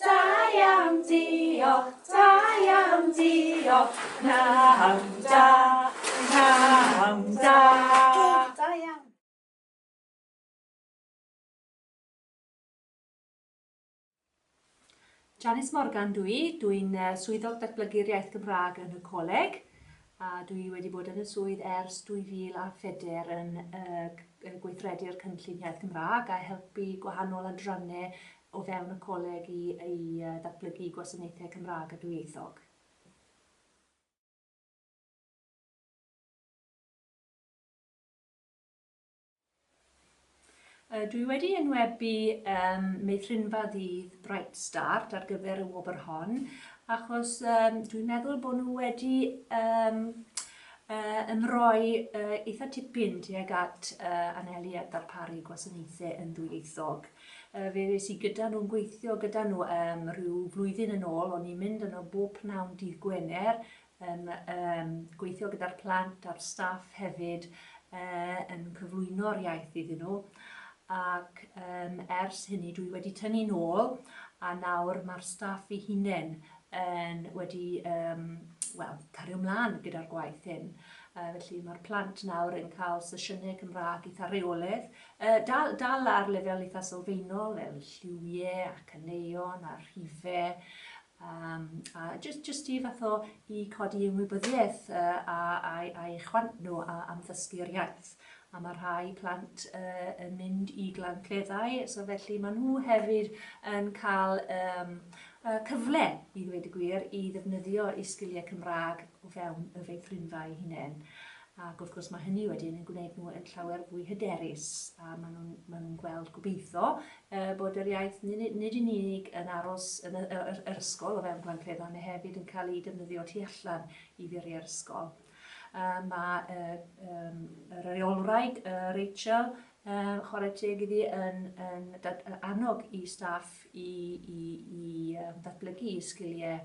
Da iawn, diolch, da iawn, diolch, pnawn da, pnawn da. Da iawn. Janice Morgan dwi i, dwi'n uh, swyddog datblygu'r iaith Gymraeg yn y coleg a dwi wedi bod yn y swydd ers 2004 yn uh, gweithredu'r cynllun iaith Gymraeg a helpu gwahanol adrannau o fewn y Coleg i i ddatblygu gwasanaethau Cymraeg a dwyieithog. Dw i wedi enwebu um, meithrinfa ddydd Bright Start ar gyfer y wobr hon, achos um, dwi'n meddwl bod nhw wedi um, uh, ymroi uh, eitha tipyn tuag at uh, anelu at ddarparu gwasanaethau yn ddwyieithog. Fe ddes i gyda nhw'n gweithio gyda nhw um, rhyw flwyddyn yn ôl, o'n i'n mynd yno bob pnawn dydd Gwener, yn um, gweithio gyda'r plant a'r staff hefyd, uh, yn cyflwyno'r iaith iddyn nhw. Ac um, ers hynny dwi wedi tynnu nôl a nawr mae'r staff i hunain yn wedi um, well, cario mlaen gyda'r gwaith hyn. Uh, felly mae'r plant nawr yn cael sesiynau Cymraeg eitha reoledd, Yy, dal, dal ar lefel eitha sylfaenol, el lliwie a caneuon a rhife, um, a just, just i fath o i codi ymwybyddiaeth uh, a, a, a eich chwant nhw a, am ddysgu'r iaith. A mae rhai plant uh, yn mynd i glan cleddau, so felly maen nhw hefyd yn cael um, uh, cyfle, i ddweud y gwir, i ddefnyddio eu sgiliau Cymraeg o fewn y feithrinfa eu hunain. Ac wrth gwrs mae hynny wedyn yn gwneud nhw yn llawer fwy hyderus a maen nhw'n maen nhw'n gweld gobeithio uh, bod yr iaith nid, nid yn unig yn aros yn y, y, y, yr ysgol o fewn gwancleddau, mae hefyd yn cael ei defnyddio tu allan i furiau'r ysgol. Uh, mae uh, um, y reolwraig uh, Rachel um, chwarae teg iddi yn, yn, yn annog i staff i, i, i um, ddatblygu sgiliau